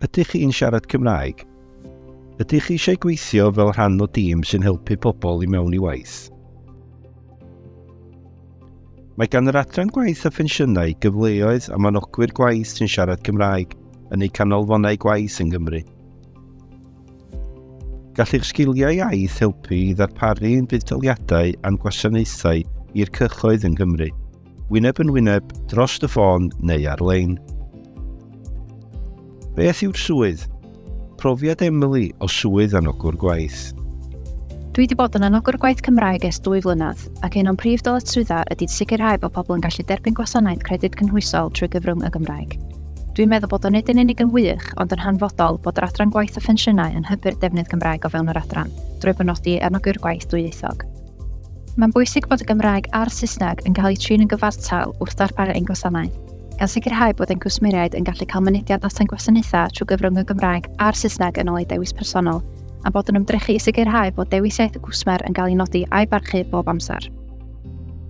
Ydych chi'n siarad Cymraeg? Ydych chi eisiau gweithio fel rhan o dîm sy'n helpu pobl i mewn i waith? Mae gan yr Adran Gwaith a Phensiynau gyfleoedd am anogwyr gwaith sy'n siarad Cymraeg yn eu canolfannau gwaith yng Nghymru. Gall eich sgiliau iaith helpu i ddarparu ein buddsoddiadau a'n gwasanaethau i'r cyhoedd yng Nghymru. Wyneb yn wyneb, dros y ffôn neu ar-lein. Beth yw'r swydd? Profiad Emily o swydd anogwr gwaith. Dwi wedi bod yn anogwr gwaith Cymraeg ers dwy flynedd, ac un o'n prif dyletswyddau ydy sicrhau bod pobl yn gallu derbyn gwasanaeth credyd cynhwysol trwy gyfrwng y Gymraeg. Dwi'n meddwl bod o nid yn unig yn wych, ond yn hanfodol bod yr adran gwaith a phensiynau yn hybu'r defnydd Gymraeg o fewn yr adran, drwy benodi anogwyr gwaith dwyieithog. Mae'n bwysig bod y Gymraeg a'r Saesneg yn cael eu trin yn gyfartal wrth ddarparu ein gwasanaeth, gan sicrhau bod ein cwsmeriaid yn gallu cael mynediad at ein gwasanaethau trwy gyfrwng y Gymraeg a'r Saesneg yn ôl eu dewis personol, a bod yn ymdrechu i sicrhau bod dewis iaith y cwsmer yn cael ei nodi a'i barchu bob amser.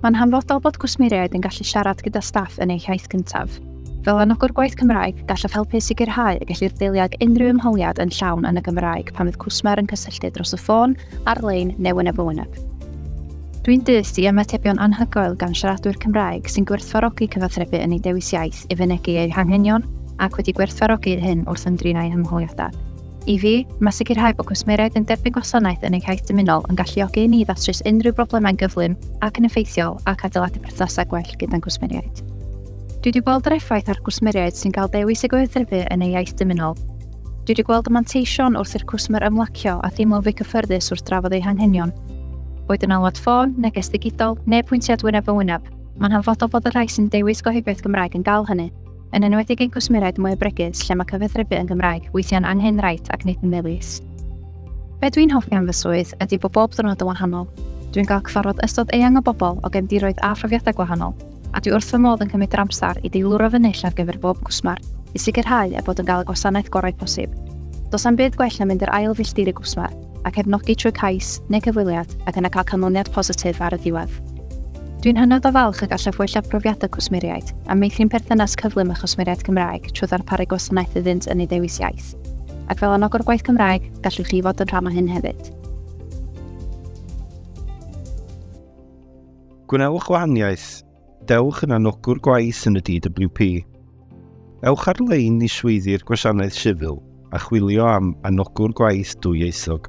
Mae'n hanfodol bod cwsmeriaid yn gallu siarad gyda staff yn eu hiaith cyntaf. Fel anogwr gwaith Cymraeg, gallaf helpu sicrhau y gellir deiliad unrhyw ymholiad yn llawn yn y Gymraeg pan fydd cwsmer yn cysylltu dros y ffôn ar-lein neu yn y fwyneb. Dwi'n dyst i ymatebion anhygoel gan siaradwyr Cymraeg sy'n gwerthfawrogi cyfathrebu yn eu dewis iaith i fynegi eu hanghenion ac wedi gwerthfawrogi hyn wrth ymdrin â'u hymholiadau. I fi, mae sicrhau bod cwsmeriaid yn derbyn gwasanaeth yn eu hiaith dymunol yn galluogi i ni ddatrys unrhyw broblemau'n gyflym ac yn effeithiol ac adeiladu perthnasau gwell gyda'n cwsmeriaid. Dwi wedi gweld yr effaith ar gwsmeriaid sy'n cael dewis y gweithrefu yn ei iaith dymunol. Dwi wedi gweld y manteision wrth i'r cwsmer ymlacio a theimlo'n fwy cyffyrddus wrth drafod eu hanghenion. Boed yn alwad ffôn, neges ddigidol, neu pwyntiad wyneb yn wyneb, mae'n hanfodol bod y rhai sy'n dewis gohebiaeth Gymraeg yn gael hynny, yn enwedig ein cwsmeriaid mwy o bregus lle mae cyfathrebu yn Gymraeg weithiau'n angenrhaid ac nid yn ddewis. Be dwi'n hoffi am fy swydd ydy bod bob dwrnod yn wahanol. Dwi'n cael cyfarfod ystod eang o bobl o gefndiroedd a phrofiadau gwahanol, a dwi wrth fy modd yn cymryd yr amser i deilwra fy nill ar gyfer bob cwsmer, i sicrhau eu bod yn cael y gwasanaeth gorau posib. Does am byd gwell na mynd i'r ail filltir y gwsmer, a cefnogi trwy cais neu cyfweliad, ac yna cael canlyniad positif ar y diwedd. Dwi'n hynod o falch y gallaf wella profiadau cwsmeriaid, a meithrin perthynas cyflym â chwsmeriaid Cymraeg trwy ddarparu gwasanaeth iddynt yn ei ddewis iaith. Ac fel anogwr gwaith Cymraeg, gallwch chi fod yn rhan o hyn hefyd. Gwnewch wahaniaeth. Dewch yn anogwr gwaith yn y DWP. Ewch ar-lein i swyddi'r Gwasanaeth Sifil a chwilio am anogwr gwaith dwyieithog.